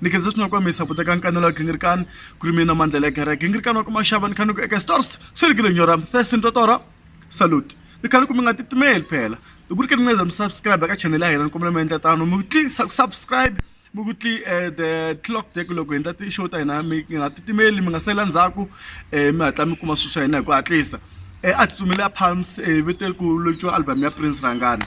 ni khensa swinene ku va mi saputa ka nkanelo wa gingirikani ku ri mina mandlela ya kereke gingirikani wa ku maxava ni kha ni ku eka stores swi ri kile nyora thirsin totora salute ni kha ni ku mi nga titimeli phela hi ku ri ke ni ngeza mi subscribe ka channel ya hina ni kombela mi endla tano mi tli subscribe mi ku tli eh, the clock dek loko hi endla ti-show ta hina mi nga titimeli mi nga sela ndzhaku um mi hatla mi kuma swilo swa hina hi ku hatlisa um a tsutsumele a phamsi um eh, vito eliku lociwa album ya prince rangani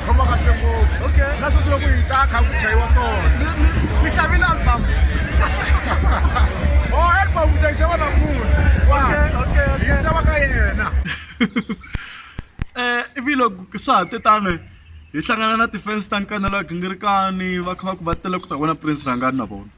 khoma kahle ngopfu okay na sweswi loko hi ta kha ku chayiwa kona mi xavile album o oh, album ta yi xava namuntlha hi yi xava ka yena um ivi loko swa ha te tani hi hlangana na ti-fans ta nkanela gingirikani va kha va ku va tele ku ta vona prince rhangani na vona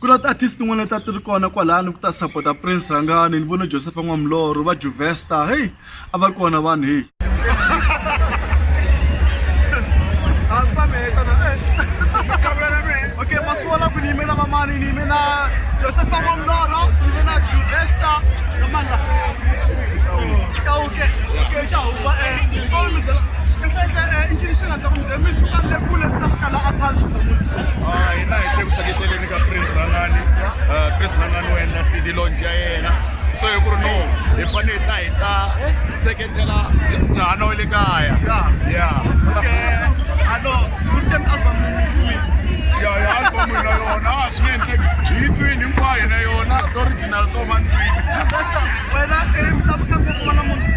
ku na ti-artist tin'wana leti a ti ri kona kwalani ku ta sapota prince rhangani ni vone josepha n'wamlorho va juvesta heyi a va ri kona vanhu heyi okay maswala ku ni yimela vamani ni yimela josepha n'wamlorho ni yimela juvesta na mandla chauke okay xa huba um i ncini xi nga ndla ku mi suka le kule mi ta fika la a phansi namuntlha Ah, hina hi te ku seketeleni ka prince rangani Ah, prince rangani u endla cd launch ya yena so hi ku ri no hi fanele hi ta hi ta seketela nja- njhana wa le kaya ya alo mustem album ya ya albumu na yona a swi nge endleki hi yi twini hinkwayo na yona ti-original to va ndlwini wena i mi ta fika ngopfu va namuntlha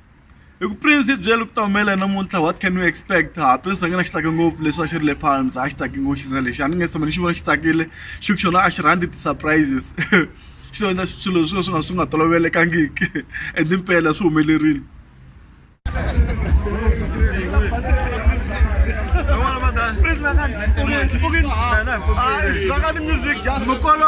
i ku prince i byele ku ta humelela namuntlha what can we expect ha prince a nga na xi tsake ngopfu leswi a xi ri le phansi a xi tsake ngopfu xisina lexi a ni nge se tshama ni xi vona xi tsakile xi ku xona a xi rhandzi ti-surprises xi endla swilo swi swi nga swi nga tolovelekangiki and impela swi humelerile Mukolo.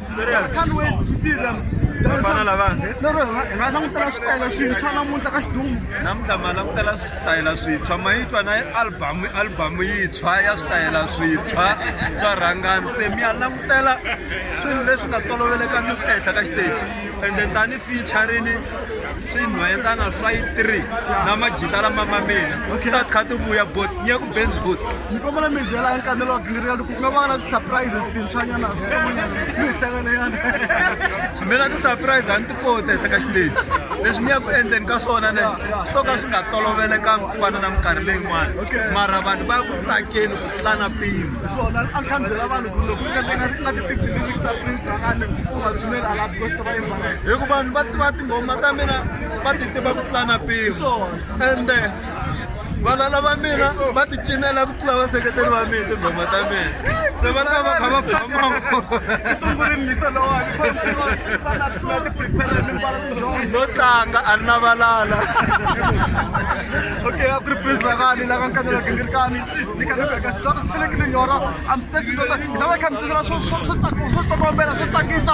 vana lavana hi nga langutela switayela swintshwa namuntlha ka xidumu namuntlha ma langutela switayela swintshwa ma yi twa na albhamu albhamu yintshwa ya switayela swintshwa swa rhangani se mi ya langutela swilo leswi nga tolovelekangiki ehenhla ka xiteji ende tani featurini swinhwanyatana swa yi three na majita lama ma mina ta kha ti vuya bot ni ya ku band bot ni kombela mi byela nkanelo wa giri loko ku nga va na ti-surprises tintshwanyana mi hlangana yana mina ti-surprise a ni ti kota ehleka xiteji leswi ni ya ku endleni ka swona ne swi to ka swi nga tolovelekanga ku fana na minkarhi leyin'wana mara vanhu va ku tsakeni ku tlula na mpimo hi swona a ni kha ni byela vanhu ku loko nga ti-pipililista prince va nga ni u va pfumeli a lavi kosta va hi ku vanhu va tiva tinghoma ta mina va ti tiva ku tlula na pimo ende vana lava mina va ti cinela ku tlula vaseketeri va mina tinghoma ta mina se va ta va kha va bamano tlanga a ni valala okay a ku ri prince rakani la ka nkanela gingirikani ni ka nibeka swi twa swi fanekele nyora amfesi tota lava kha mi tisela swo swo swo tsaka swo tsokombela swo tsakisa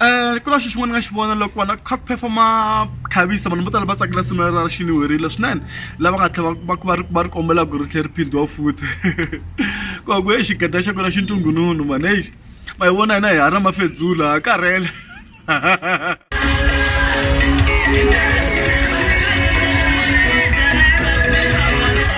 ku na xilo xin'wana ni nga xi vona loko vanhu va kha ku perform-a khavisa vanhu vo tala va tsakela risimu ra ra xilo werile swinene lava nga tlhela va va ri va ri kombela ku ri tlhela ri philitiwa futhi ku va ku he xigede xa kona xi ntungununu mhani exi ma hi vona hina hi haha na mafedzula ha karhele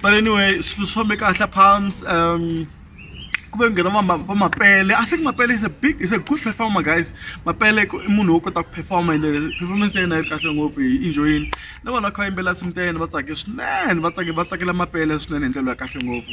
but anyway swilo swi fambe kahle palms um ku ve nghena va mapele i think mapele is a big is a good performer guys mapele i munhu wo kota ku performa ende performance ya yena yi ri kahle ngopfu hi enjoyini na vanhu va kha va yimbelela nsimu ta yena va tsake swinene va tsake va tsakela mapele swinene hi ndlela ya kahle ngopfu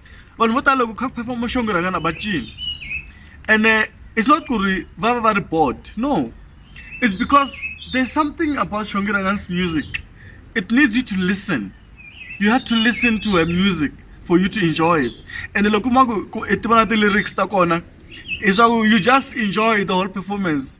vanhu vo tala loko kha ku phefoma muxongi rhangana va cini ene it's not ku ri va va va ri board no it's because there's something about xongi rhangan's music it needs you to listen you have to listen to her music for you to enjoy it ene loko ma ku i ti vona ti-lyrics ta kona leswaku you just enjoy the whole performance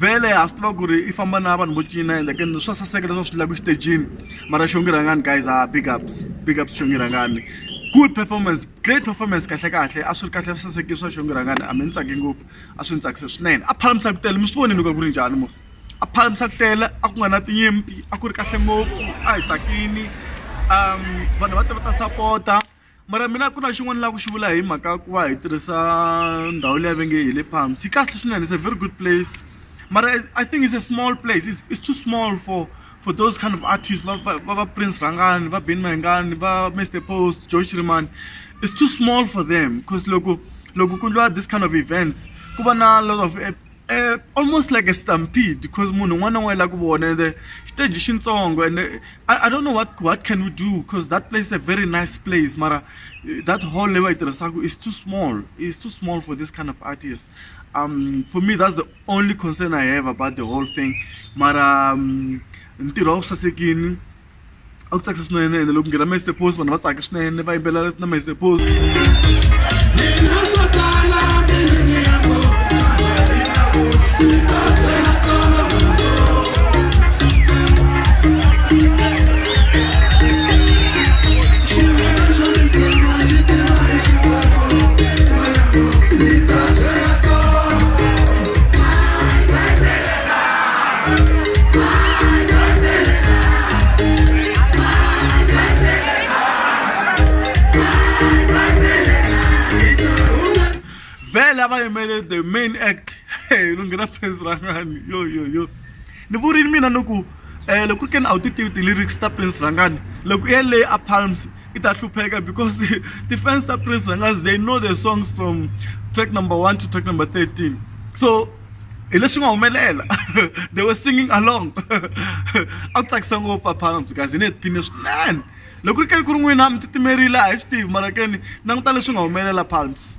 vhele ha swi tiva ku ri i famba na vanhu vo cina ende ke swa saseka leswi va swi endlaku exitejini mara xongi rhangani guys ha big ups big ups xongi rhangani good performance great performance kahle kahle a swi ri kahle swi sasekile swa xongi rhangani a mi ni tsake ngopfu a swi ni tsakise swinene a phalamisa ku tele mi swi vonile ku a ku ri njhani mos a phalamisa ku tele a ku nga na tinyimpi a ku ri kahle ngopfu a hi tsakini um vanhu va te va ta sapota Mara mina ku na xin'wana ni lava ku xi vula hi mhaka ya ku va hi tirhisa ndhawu leyi va nge hi le Palms yi kahle swinene it's a very good place mara I think it's a small place it's it's too small for for those kind of artists va va va va Prince Rhangani va Benny Mayengani va Mister Post Joy Shirimani it's too small for them cause loko loko ku endliwa this kind of events ku va na lot of . almost like a stampede because munhu un'wana na un'wana i lava ku vona ende xiteji i xintsongo ende I, I don't know what what can we do because that place is a very nice place mara eh, that hall leyi va yi tirhisaka is too small is too small for this kind of artist um for me that's the only concern i have about the whole thing mara um, ntirho a wu sasekini a ku tsakisa swinene ene loko nghena master pose vanhu va tsaka swinene va yimbelela na master pose vele a va yimele the main act lo nghena phrase rangani yo yo yo ni vurini mina ni ku um loko ku ke ni a wu ti tivi ti-lyrics ta prince rangani loko i yeleyi a palms i ta hlupheka because ti-fans ta prince rangani they know the songs from track number one to track number thirteen so hi leswi nga humelela they were singing along a ku tsakisa ngopfu aphana mzi guys hi ne hi tiphine swinene loko ri keri ku ri n'wina mi titimerile a hi swi tivi mara keni languta leswi nga humelela palms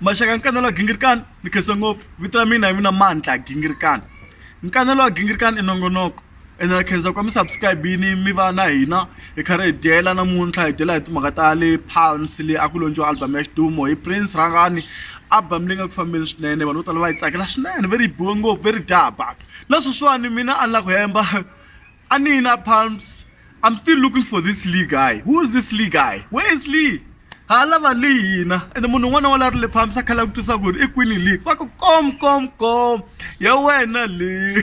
maxaka nkanelo wa gingirikani ni khensa ngopfu vito ra mina hi mina mandla gingirikani nkanelo wa gingirikani i nongonoko ene na khensa kwa mi subscribe yini mi va na hina hi kha ri hi dyela namuntlha hi dyela hi timhaka ta le pals le a ku lontshiwa album ya xidumo hi prince rhangani album leyi nga ku fambeni swinene vanhu vo tala va yi tsakela swinene ve ri yi biwe ngopfu ve ri dya ba na sweswiwani mina a ni la ku hemba a ni yi na pumps i'm still looking for this lee guy who is this lee guy where is lee ha lava lee hina ende munhu un'wana wa la ri le pumps a khala ku twisa ku ri i kwini lee va ku kom kom kom ya wena lee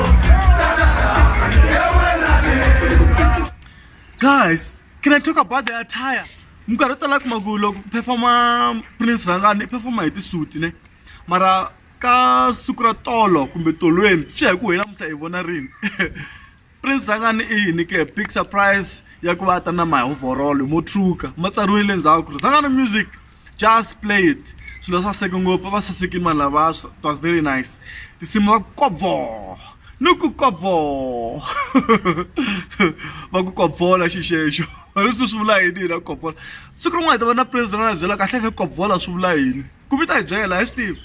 guys can i talk about the attire minkarhi yo tala kuma ku loko ku performa prince rhangani i performa hi tisuti ne mara ka siku ra tolo kumbe tolweni swi ya hi ku hina mutla hi vona rini prince rhangani i yini ke big surprise ya ku va a ta na mahovhorolo mo truka ma tsariwile ndzhaku ku ri rhangani music just play it swilo swa saseke ngopfu va sasekile vanhu lava it was very nice tinsimu va kobvo ni ku kobvo va ku kobvola xixexo leswi swi vula yini hina kobvola siku rin'wana hi ta va na president a byela kahle kahle kobvola swi vula yini ku vita hi byela hi swi tiva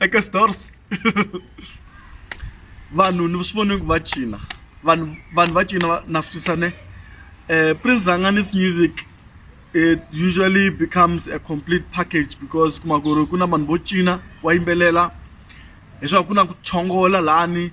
eka stores vanhu ni swi vone ku va cina vanhu vanhu va cina na swi tisa ne um prince ranganis music it usually becomes a complete package because kuma ku ri ku na vanhu vo cina wa yimbelela leswaku ku na ku chongola lani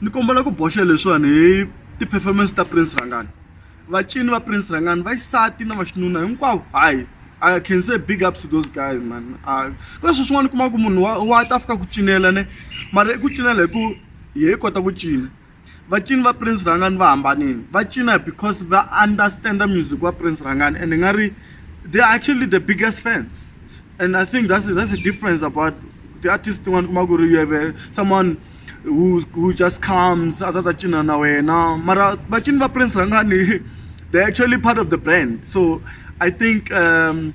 ni kombela ku boxa leswiwani hi ti-performance ta prince rhangani vacini va prince rhangani va xisati na vaxinuna hinkwavo hayi I can say big ups to those guys man uh, ka sweswi n'wana kuma ku munhu wa wa ta fika ku cinela ne mara i ku cinela hi ku hi kota ku cina va cini va prince rangani va hambanini va cina because va understand music wa prince rangani and nga ri they are actually the biggest fans and i think that's, that's the difference about the artist tin'wana kuma ku ri you have a, someone who, who just comes a ta ta cina na wena mara vacini va prince rangani they actually part of the brand so i think um,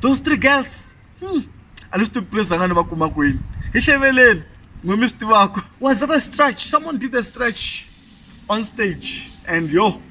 those three girls hmm. a ni swi tivi place anga ni va kuma kwini hi hleveleni n'wi mi swi tivaka was that a stretch someone did a stretch on stage and yo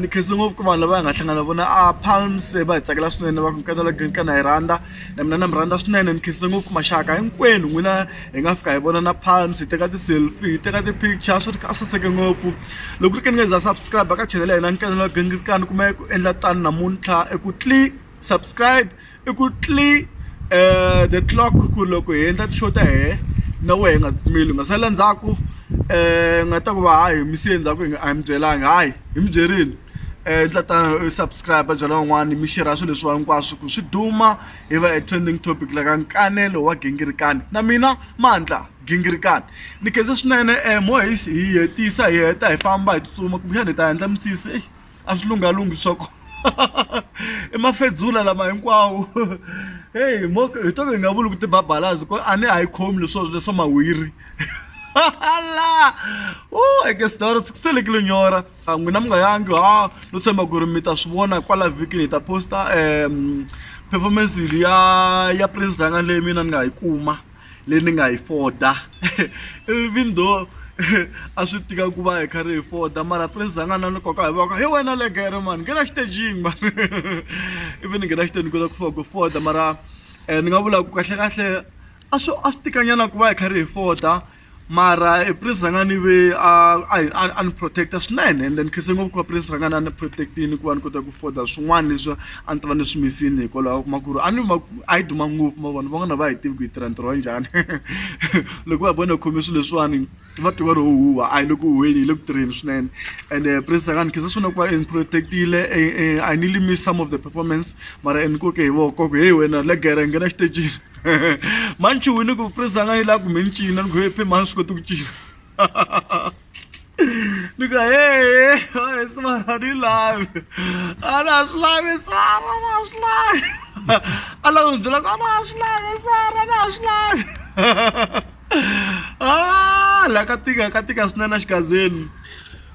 ni khensa ngopfu ku vanhu lava hi nga hlangana vona a palms va hi tsakela swinene va ku nkana la green kana hi rhandza na mina na mi rhandza swinene ni khensa ngopfu maxaka hinkwenu n'wina hi nga fika hi vona na palms hi teka ti-selfie hi teka ti-picture swi ri a saseke ngopfu loko ri ke ni nga za subscribe ka channel ya hina nkana la green kana kuma ku endla tani namuntlha i ku . subscribe i ku tlilika the clock ku loko hi endla ti-show ta hina na wehe hi nga pfumeli hi nga sala ndzhaku hi nga ta ku va hayi hi mi siye ndzhaku hi nga a hi mi byelanga hayi hi mi byerile endla tano u subscribe byela van'wani mi share swilo leswiwa hinkwaswo ku swi duma hi va a trending topic la ka nkanelo wa gingirikani na mina mandla gingirikani ni khensa swinene mo hi hetisa hi heta hi famba hi tsutsuma kumbexana hi ta endla misisi exi. a swi lunghalungi swa kona i mafedzula lama hinkwawo heyi mo hi to hi nga vuli ku tibabalazi ku a ni a yi khomi leswo leswa mahwiri la u eke sdoro swi selekile nyora n'wina mi nga yangi ha no tshemba ku ri mi ta swi vona kwala vhikini hi ta posta um performance ya ya prince rhanga leyi mina ni nga yi kuma leyi ni nga yi foda even though a swi tika ku va hi kha ri hi foda mara prince a nga na ni koka hi voko hi wena le gere mani nghena xitejini mani ivi ni nghena xitejini ni kota ku fika ku foda mara ni nga vula ku kahlekahle a swi a swi tikanyana ku va hi kha ri hi foda. Mara e prince rhangani ve a a a a ni protect-a swinene ende ni khense ngopfu ku va prince rhangani a ni protect-ini ku va ni kota ku afford-a swin'wana leswi a ni ta va ni swi miss-ini hikwalaho u kuma ku ri a ni a yi duma ngopfu ma vona van'wana a va ha yi tivi ku yi tirha ntirho wa njhani loko va vona hi khome swilo leswiwani va tiva ri huhuwa a hi le ku huhweni hi le ku tirheni swinene ende prince rhangani ni khensa swinene ku va ni protect-ile a ni le miss some of the performance mara ni koke hi voko ku heyi wena le gere nghena exitejini mani chuwini ku vukreste a nga yi laha kumbe ni cina ni ku he phe mani swi koti ku cina ni ku hehe he sivana ni lavi a na ha swi lavi sara na ha swi lavi a lava ni byela ku a na ha swi lavi sara na ha swi lavi a la ka tika ka tika swinene a xigazeni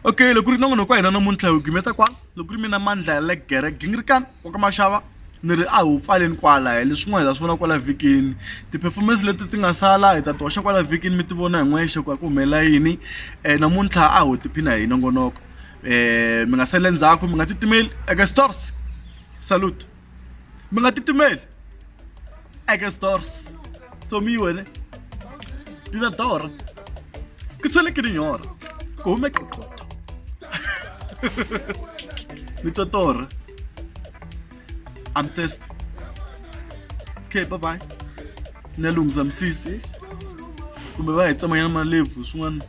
okay loko ku ri na n'wana wa ka hina namuntlha hi wu gimeta kwala. Ni ku ri mina Mandla ya le gere gingirikani wa ka Mashava ni ri a hi wu pfaleni kwala hi leswi n'wana hi ta swi vona kwala vhikini ti-performance leti ti nga sala hi ta ti hoxa kwala vhikini mi ti vona hi n'wexe ku a ku humelela yini namuntlha a ho tiphina hi nongonoko mi nga sali endzhaku mi nga titimeli eka Stores salute. mi nga titimeli eke stores so mi wene dina dora ku tshwele ke dinyora ku hume qoqoto mi twa tora i'm test okay bye bye na lunghisa misisi kumbe va hi tsamanyana malebvu swin'wana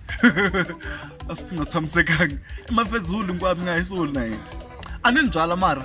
a swi ti nga tshamisekanga i mafezulu hinkwavo mi nga hi soli na yena a ni ni byala mara